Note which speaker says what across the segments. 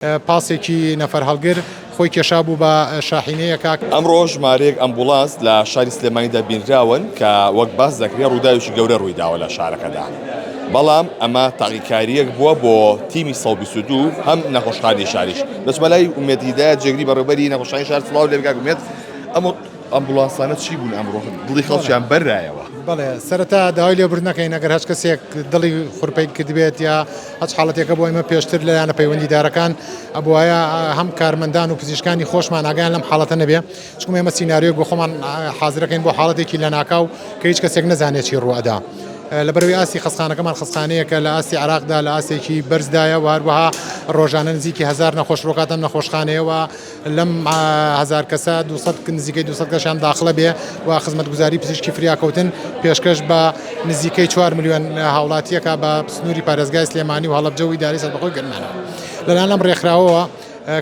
Speaker 1: پاسێکی نەفەرهەڵگر خۆی کێشابوو بە شاحینەیەکا. ئەمڕۆ ژمارەیەک
Speaker 2: ئەمبوڵانس لە شاری سلێمانیدا بینراون کە وەک باس دەکرێت ڕووداوێکی گەورە ڕوویداوە لە شارەکەدا، بەڵام ئەمە تاقیکارییەک بووە بۆ تیمی سەد و بیست و دوو هەم نەخۆشخانەی شاریش. دەچمە لای ئومێد هیدایەت جێگری بەڕێوەبەری نەخۆشخانەی شار، سڵاو لێبکە کاک ئومێد، ئەم ئەمبوڵانسانە چی بوون ئەمڕۆ دڵی خەڵکیان بەرایەوە؟ بەڵێ سەرەتا
Speaker 1: داوای لێبوردن دەکەین ئەگەر هەچ کەسێک دڵی خورپەی کردبێت یا. هەچ حاڵەتێکە بۆ ئێمە پێشتر لە یانە پەیوەندیدارەکان ئەبوایە هەم کارمەندان و پزیشکانی خۆشمان ئاگایان لەم حاڵەتە نەبێ چکم ئێمە سینناریۆک بۆ خۆمان حازرەکەین بۆ حاڵەتێکی لە ناکاو کە هیچ کەسێک نەزانێت چی ڕوەدا. لە بەرەوەی ئاستی خەستخانەکەمان خەستخانەیەکە لە ئاستی عراقدا لە ئاسێکی بەرزدایە وهروەها ڕۆژانە نزیکی هزار نەخۆش ڕۆکاتەم نەخۆشخانەیەوە لەم هەزار کەسە دوو سەد نزیکەی دوو سەد کەسیان داخڵە بێ و خزمەتگوزاری پزیشکی فریاکەوتن پێشکەش بە نزیکەی چوار ملیۆن هاوڵاتییەکە بە سنووری پارێزگای سلێمانی و هەڵەبجە و ئیدارەی سەربەخۆی گەرمیان. لەلایەن ئەم ڕێکخراوەوە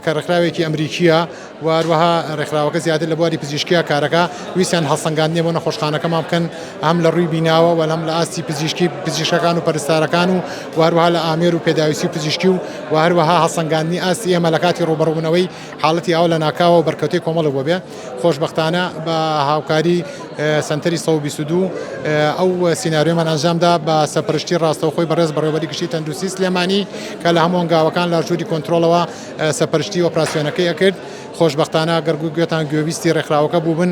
Speaker 1: کە ڕێکخراوێکی ئەمریکییە و هەروەها ڕێکخراوەکە زیاتر لە بواری پزیشکییە کارەکە، ویستیان هەڵسەنگاندنێ بۆ نەخۆشخانەکەمان بکەن هەم لە ڕووی بیناوە و هەم لە ئاستی پزیشکی پزیشکەکان و پەرستارەکان و هەروەها لە ئامێر و پێداویستی پزیشکی و و هەروەها هەڵسەنگاندنی ئاستی ئێمە لەکاتی ڕووبەڕووبوونەوەی حاڵەتی ئاو لەناکاوە و بەرکەوتەی کۆمەڵێک بۆ بێ خۆشبەختانە بە هاوکاری سەنتەری سەد و بیست و دوو ئەو سیناریۆمان ئەنجامدا بە سەرپەرشتی ڕاستەوخۆی بەڕێز بەڕێوەبەری گشتی تەندروستی سلێمانی کە لە هەموو هەنگاوەکان لە ژووری کۆنترۆڵەوە سەرپەرشتی ئۆپراسیۆنەکەی ئەکرد خۆشبەختانە گەر گوێتان گوێبیستی ڕێکخراوەکە بووبن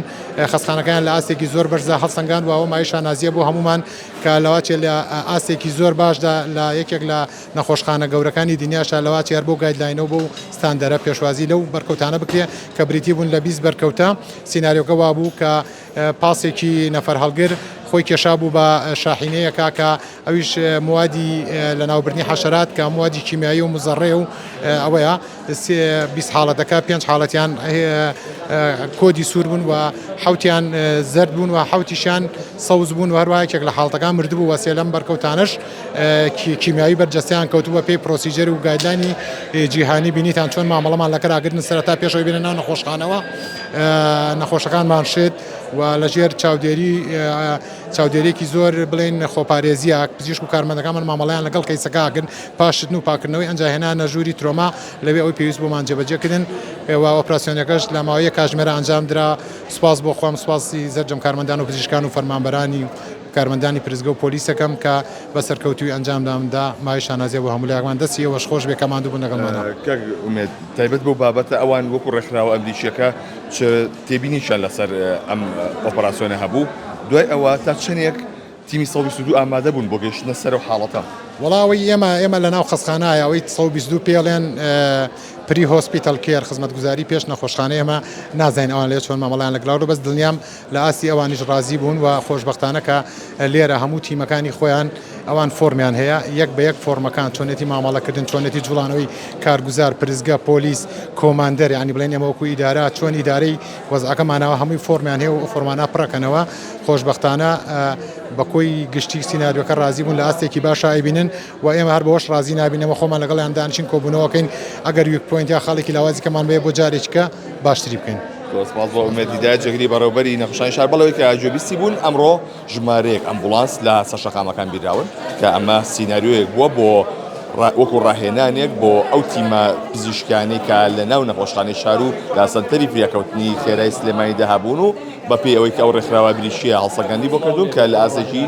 Speaker 1: خەستخانەکەیان لە ئاستێکی زۆر بەرزە هەڵسەنگاند و ئەوە مایەی شانازییە بۆ هەموومان کە لەوەتێ لە ئاستێکی زۆر باشدا لە یەکێک لە نەخۆشخانە گەورەکانی دنیاشدا لەوا چیار بەو گایدلاینە و بەو ستاندەرە پێشوازی لەو بەرکەوتانە بکرێ کە بریتی بوون لە بیست بەرکەوتە، سیناریۆکە وا بوو کە پاسێکی نەفەر هەڵگر خۆی کێشا بوو بە شاحینەیەکا کە ئەویش موادی لەناوبردنی حەشەرات کە موادی کیمیایی و مزەڕەیە و ئەوەیە بیست حاڵەتەکە پێنج حاڵەتیان کۆدی سوور بوون و حەوتیان زەرد بوون و حەوتیشیان سەوز بوون و هەروایەکێک لە حاڵەتەکان مردبوو وەسێ لەم بەرکەوتانەش کیمیاوی بەرجەستەیان کەوتوو بە پێی پرۆسیجەر و گایدلاینی جیهانی بینیتان چۆن مامەڵەمان لە کەراگرن سەرەتا پێشەوەی بێنە ناو نەخۆشخانەوە نەخۆشەکانمان شێت و لەژێر چاودێری چاودێریێکی زۆر بڵێن خۆپارێزیە پزیشک و کارمەندەکانمان مامەڵیان لەگەڵ کەیسەکەکن پاشتن و پاکردنەوەی ئەنجاهێنا نەژووری ترۆما لەوێ ئەوی پێویست بۆمان جێبەجێکردن و ئۆپراسسیۆنەکەش لە ماوەیە کاژمێرە ئەنجام درا سپاس بۆ خۆم سپاسی زەرجەم کارمەندان و پزیشکان و فەرمانبەرانی کارمەندانی پرسگە و پۆلیسەکەم کە بە سەرکەوتووی ئەنجامدام دا، مایەی شانازیە بۆ هەموو لایەکمان، دەستی ئێوەش خۆش بێ کە ماندوو بوون لەگەڵ مانا. کاک ئومێد
Speaker 2: تایبەت بەو بابەتە ئەوان وەکو ڕێکخراوە ئەمریکیەکە چ تێبینیکیان لەسەر ئەم ئۆپەراسیۆنە هەبوو؟ دوای ئەوە تا چەنێک تیمی سەد و بیست و دوو ئامادە بوون بۆ گەیشتنە سەر ئەو حاڵەتە؟ وەڵا ئەوەی ئێمە
Speaker 1: ئێمە لە ناو خەسخانایە ئەوەی سەد و بیست و دوو پێڵێن پری هۆسپیتەڵ کێر خزمەتگوزاری پێش نەخۆشخانە ئێمە نازانین ئەوان لەوێ چۆن مامەڵەیان لەگلاو بەس دڵنیام لە ئاستی ئەوانیش ڕازی بوون و خۆشبەختانە کە لێرە هەموو تیمەکانی خۆیان ئەوان فۆرمیان هەیە یەک بە یەک فۆرمەکان چۆنێتی مامەڵەکردن چۆنێتی جوڵانەوەی کارگوزار پرسگە پۆلیس کۆماندەر یانی بڵێن ئێمە وەکو ئیدارە چۆن ئیدارەی وەزعەکە ماناوە هەمووی فۆرمیان هەیە و فۆرمانە پڕەکەنەوە خۆشبەختانە بە کۆی گشتی سیناریۆکە ڕازی بوون لە ئاستێکی باشا ئەیبینن و ئێمە هەر بەوەش ڕازی نابین، ئێمە خۆمان لەگەڵیان دانیشین کۆبوونەوە کەین، ئەگەر ویک پۆینت یا خاڵێکی لاوازی کەمان بەوێ بۆ جارێکیکە باشتری بکەین. زۆر سپاس بۆ ئومێد
Speaker 2: هیدایەت جێگری بەڕێوەبەری نەخشانی شار بەڵێ کە گوێبیستی بوون ئەمڕۆ ژمارەیەک ئەمبوڵانس لە سەر شەقامەکان بیراون کە ئەمە سیناریۆیەک بووە بۆ وەکو ڕاهێنانێک بۆ ئەو تیمە پزیشکانەی کە لە ناو نەخۆشخانەی شار و لاسەنتەری فریاکەوتنی خێرای سلێمانیدا هەبوون و بەپێی ئەوەی کە ئەو ڕێکخراوە بریشییە هەڵسەنگاندی بۆ کردوون کە لە ئاستێکی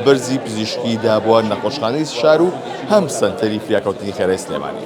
Speaker 2: بەرزی پزیشکی دابووە نەخۆشخانەی شار و هەم سەنتەری فریاکەوتنی خێرای سلێمانی.